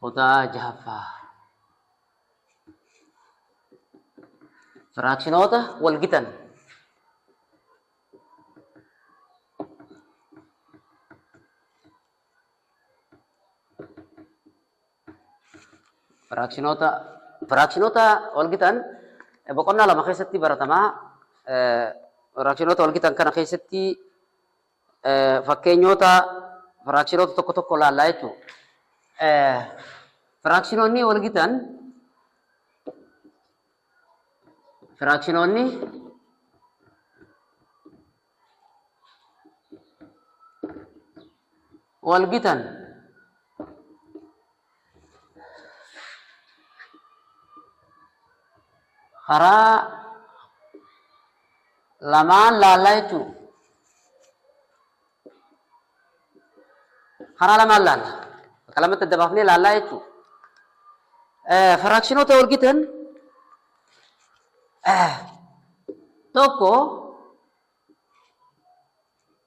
Kutaa jahaffaa. Firaakshinoota wal gitan. Firaakshinoota firaakshinoota wal gitan boqonnaa lama keessatti baratamaa. Firaakshinoota wal gitan kana keessatti fakkeenyoota firaakshinoota tokko tokko ilaallaa jechuudha. Firaakshinoonni wal gitan firaakshinoonni wal gitan karaa lamaan laallaa jechuun karaa lamaan laalla bakka lamatti adda baafnee laallaa jechuun firaakshinoota walgitan tokko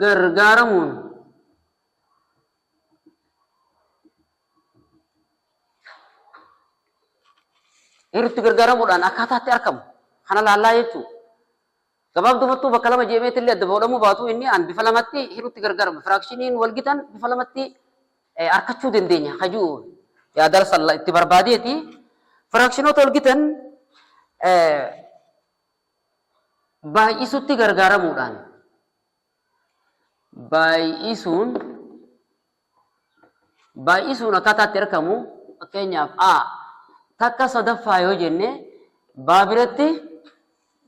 gargaaramuun heerutti gargaaramuudhaan akkaataatti argamu kana laallaa jechuudha. Gabaabdumattuu bakka lama jeemeetti illee adda bahuudhamuu baatu inni an bifa lamatti heerutti gargaaramu firaakshiniin walgitan bifa lamatti arkachuu dandeenya kajuu yaadala salla itti barbaadeeti. Firaakshinoota walgitan baay'isuutti gargaaramuudhaan baay'isuun baay'isuun akkaataa itti argamu fakkeenyaaf a takka sadaffaa yoo jenne baa biratti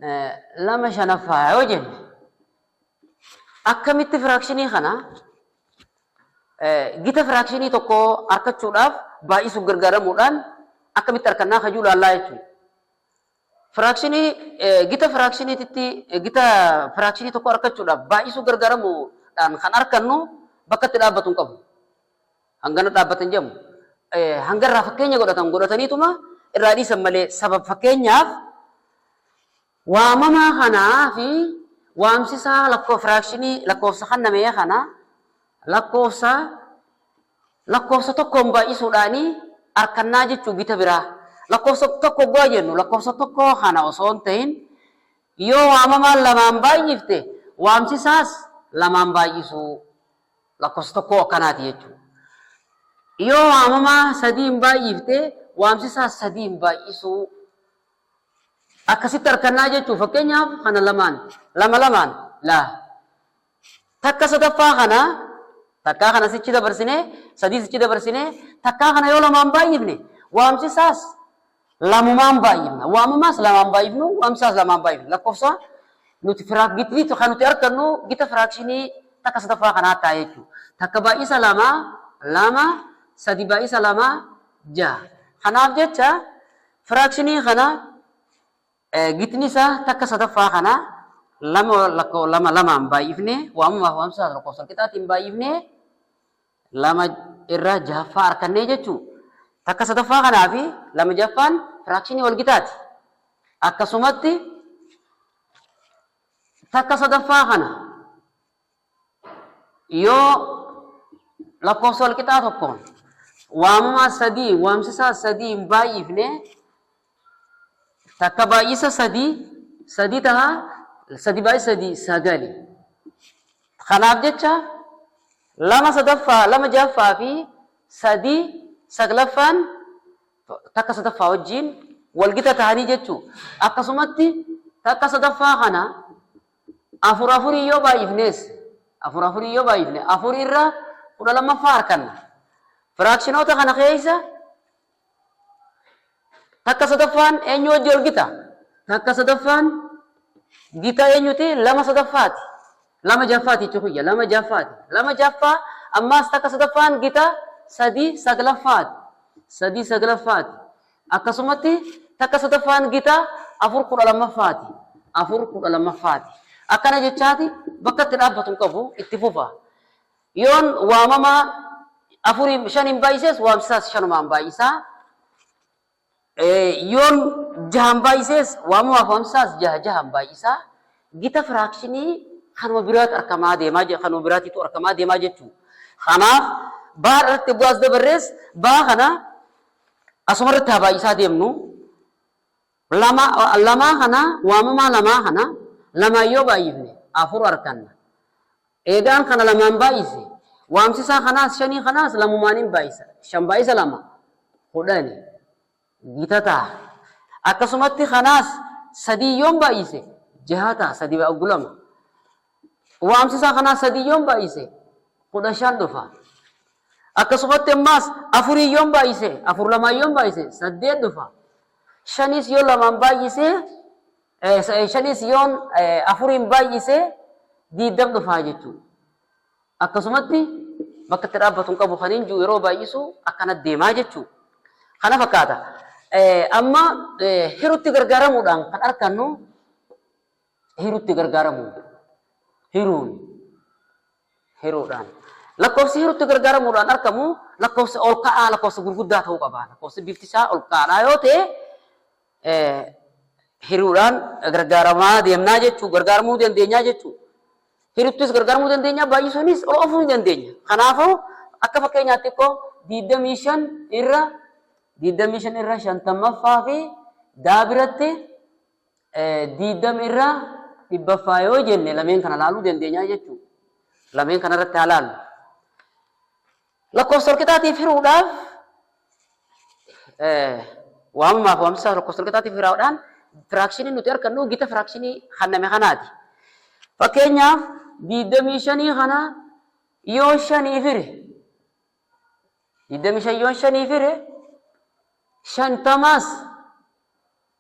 eh, lama shanaffaa yoo jenne akkamitti firaakshinii kana eh, gita firaakshinii tokko argachuudhaaf baay'isuuf gargaaramuudhaan akkamitti argannaa kajuu laallaa jechuudha. Firaakshinii gita firaakshiniititti gita firaakshinii tokko arkachuudhaaf baay'isuu gargaaramu dhaan kan arkannu bakka itti dhaabbatu hin qabu. Hangana dhaabbata hin jedhamu. Hanga irraa fakkeenya godhatan godhataniituma irraa dhiisan malee sabab fakkeenyaaf waamamaa kanaa fi waamsisaa lakkoo firaakshinii lakkoofsa kannamee kana lakkoofsa Lakkoofsa tokkoon baay'isuudhaani arkannaa jechuu gita biraa. Lakkoofsa tokko oggaa jennu lakkoofsa tokkoo kana osoo hin tahin yoo waamamaan lamaan baay'ifte waamsisaas lamaan baay'isuu lakkoofsa tokkoo akkanaati jechuu. Yoo waamamaa sadiin baay'ifte waamsisaas sadiin baay'isuu akkasitti arkannaa jechuu fakkeenyaaf kana lamaan lama lamaan laa Takka sadaffaa kana takkaa kana sichi dabarsinee sadii sichi dabarsinee takkaa kana yoo lamaan baay'ifne waamsisaas lamumaan baay'ifna waamamaas lamaan baay'ifnu waamsisaas lamaan baay'ifna lakkoofsa nuti firaak gitni kan nuti argannu gita firaakshinii takka sadaffaa kanaa ta'a jechuudha. Takka baay'isa lama lama sadi baay'isa lama jaha. Kanaaf jecha firaakshinii kana Gitni isaa takka sadaffaa kana lama lakkoo lama lamaan baay'ifnee waamamaaf waamsa lakkoofsa walqixaatiin baay'ifnee lama irra jahaffaa arkannee jechuu takka sadaffaa kanaa fi lama jahaffaan firaakshinii walgitaati. Akkasumatti takka sadaffaa kana yoo lakkoofsa walqixaa tokko waamumaa sadii waamsisaa sadii hin baay'ifne takka baay'isa sadii sadii taha sadii baay'isa sadii sagali kanaaf jecha lama sadaffaa lama jahaffaa fi sadii saglaffaan takka sadaffaa wajjiin walgita tahanii jechuu akkasumatti takka sadaffaa kana Afur afuriin yoo baay'ifnees afur afuriin yoo baay'ifne afur irra kudha lammaffaa arkanna. Firaakshinoota kana keessa takka sadaffaan eenyu wajji ol gita? Takka sadaffaan gita eenyuti? Lama sadaffaati. Lama jaffaati jechuu kiyya. Lama jaffaati. Lama jaffaa ammaas takka sadaffaan gita sadii saglaffaati. Sadii saglaffaati. Akkasumatti takka sadaffaan gita afur kudha lammaffaati. Afur kudha lammaffaati. Akkana jechaati bakka itti dhaabbatu hin qabu itti fufa. Yoon waamamaa afuriin shaniin baay'isees waamsisaas shanumaan baay'isaa. Yoon jahan baay'isees waamamaaf waamsisaas jaha jahan baay'isaa. Gita firaakshinii kanuma biraatu argamaa deemaa kanuma biraatiitu argamaa deemaa jechuudha. Kanaaf baa irratti bu'aas dabarrees baa kana Asuma irratti haa baay'isaa deemnu. Lama, lamaa kana waamamaa lamaa kana lamaan yoo baay'ifne afur arkanna. Eegaan kana lamaan baay'ise waamsisaa kanaas shanii kanaas lamumaanin baay'isa. Shan baay'isa lama kudhani gita ta'a. Akkasumatti kanaas sadii yoon baay'ise jaha ta'a sadii baay'u lama. Waamsisa kanaa sadiin yoon baay'ise kudha shan dhufa. Akkasumatti ammaas afuriin yoon baay'ise afur lamaan yoon baay'ise saddeet dhufa. Shaniis yoo lamaan baay'ise shaniis yoon afuriin baay'ise diiddam dhufaa jechuudha. Akkasumatti bakka itti dhaabbatu hin qabu kan hin jiru yeroo baay'isu akkana deemaa jechuudha. Kana fakkaata. Amma hirutti gargaaramuudhaan kan argannu hirutti gargaaramu hiruun hiruudhaan lakkoofsi hirutti gargaaramuudhaan argamu lakkoofsa ol ka'aa lakkoofsa gurguddaa ta'uu qaba lakkoofsi bifti isaa ol ka'aadhaa yoo ta'e hiruudhaan gargaaramaa deemnaa jechuu gargaaramuu dandeenyaa jechuu hiruttis gargaaramuu dandeenya baay'isuunis ol ofuu ni dandeenya kanaafuu akka fakkeenyaatti xiqqoo diidamii shan irra diidamii shan irra shantammaffaa fi daa biratti 20 irraa dhibbaffaa yoo jenne lameen kana laaluu dandeenya jechuudha. Lameen kana irratti haa laallu. Lakkoofsa walqixaatiif hiruudhaaf waamamaaf waamsisaa lakkoofsa walqixaatiif hiraadhaan firaakshinii nuti argannu gita firaakshinii hanname kanaati. Fakkeenyaaf 25 kana yoo shaniif hire 25 yoo shaniif hire shantamaas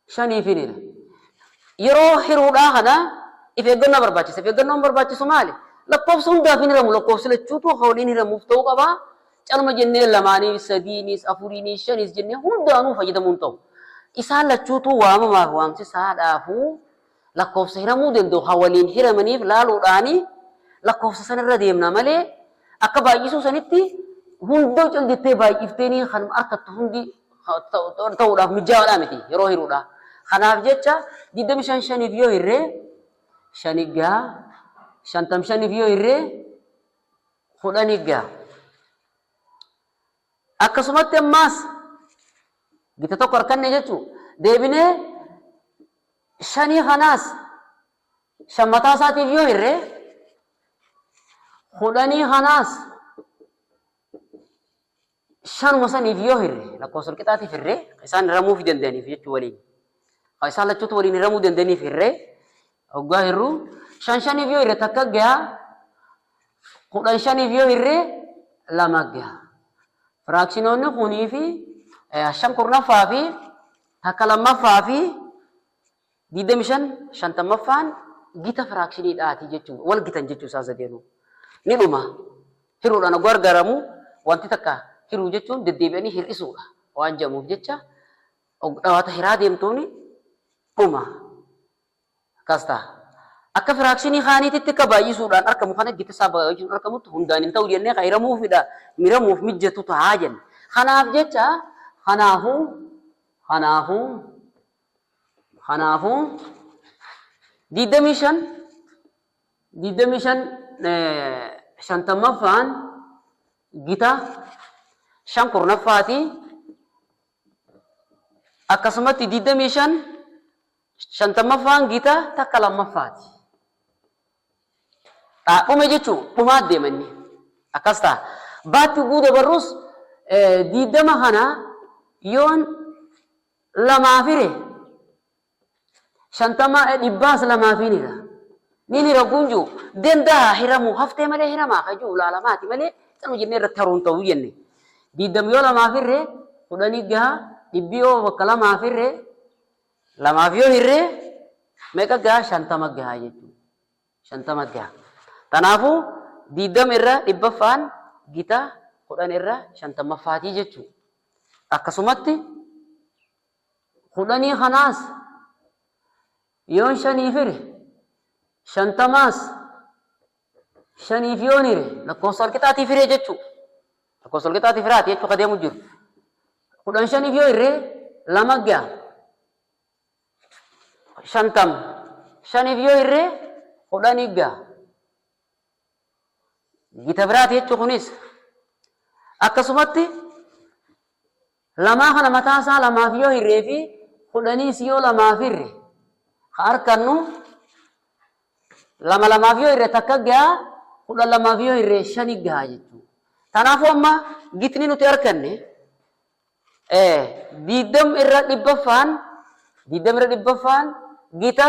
shanii fi nina. Yeroo hiruudhaa kana if eeggannoo barbaachisa. If eeggannoon barbaachisu maali? Lakkoofsa hundaaf hin hiramu. Lakkoofsi lachuutu akka waliin hiramuuf ta'uu qaba. Calma jennee lamaaniif, sadiiniis, afuriiniis, shaniis jennee hundaanuu fayyadamuun ta'u. Isaan lachuutuu waamamaaf waamsisaadhaafuu Lakkoofsa hiramuu danda'u kan waliin hiramaniif laaluudhaan lakkoofsa sana irra deemna malee akka baay'isuu sanitti hundoo cal jettee baay'ifteenii kan harkattu hundi ta'uudhaaf mijaa'aadhaa miti yeroo hiruudha. Kanaaf jecha 25 shaniif yoo hirree shan iggaa 55f yoo hirree kudhan iggaa. Akkasumatti ammaas gita tokko arkanne jechuu deebinee shanii kanaas shan mataa isaatiif yoo hirre kudhanii kanaas shanuma saniif yoo hirre lakkoofsa walqixaatiif hirre isaan hiramuuf danda'aniif jechuu waliin isaan lachuutu waliin hiramuu danda'aniif hirre Hoggaa hirru shan shaniif yoo hirre takka gaha kudhan shaniif yoo hirre lama gaha. Firaakshinoonni kunii fi shan kurnaffaa fi takka lammaffaa fi digdami shan shantammaffaan gita firaakshinii dhaati jechuudha. Wal gitan jechuu isaan sadeenuu. Ni dhuma. Hiruudhaan hoggaa gargaaramu wanti takka hiruu jechuun deddeebi'anii hir'isuudha waan jedhamuuf jecha dhawaata hiraa deemtuuni dhuma. Akkas taha. Akka firaakshinii kaaniititti akka baay'isuudhaan arkamu kana gita isaa baay'isuun arkamutti hundaan hin ta'u jennee kan hiramuu fi miramuuf mijjatu taha jenne. Kanaaf jecha kanaafuu kanaafuu kanaafuu digdamii shan digdamii shan shantammaffaan gita shan kurnaffaati akkasumatti digdamii shan Shantammaffaan gita takka lammaffaati. Dhaabbame jechuun dhumaa deema inni. Akkas ta'a. Baatti ugguu dabarrus diiddama kana yoon lamaa fire shantama dhibbaas lamaa fi nira. Ni nira kun jiru danda'a hiramu haftee malee hiramaa kan jiru laalamaati malee kan hojjennee irratti haruun ta'uu jenne. Diiddam yoo lamaa firre kudhanii gaha dhibbi yoo bakka lamaa firre lamaaf yoo hirre meeqa gaha? Shantama gaha jechuudha. Shantama gaha. Kanaafuu digdama irra dhibbaffaan gita kudhan irra shantammaffaatii jechuudha. Akkasumatti kudhanii kanaas yoon shaniif hire shantamaas shaniif yoon hire lakkoofsa walqixaatiif hiree jechuu lakkoofsa walqixaatiif hiraati jechuu ka deemu jiru kudhan shaniif yoo hirree lama ga'a shantam shaniif yoo hirree kudhanii ga'a gita biraati jechuu kunis akkasumatti Lamaa kana mataa isaa lamaaf yoo hirree fi kudhaniis yoo lamaaf hirre ka arkannu lama lamaaf yoo hirre takka gaha kudhan lamaaf yoo hirre shani gaha jechuu tanaafuu amma gitni nuti arkanne diiddam irra dhibbaffaan diiddam irra dhibbaffaan gita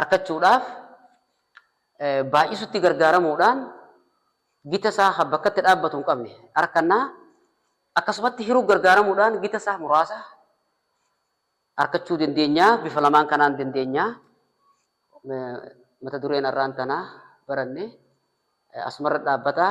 arkachuudhaaf baay'isutti gargaaramuudhaan gita isaa kan bakkatti dhaabbatu hin qabne arkannaa akkasumatti hiruu gargaaramuudhaan gita isaa muraasa arkachuu dandeenyaa bifa lamaan kanaan dandeenyaa mata dureen arraan tanaa baranne asumarra dhaabbataa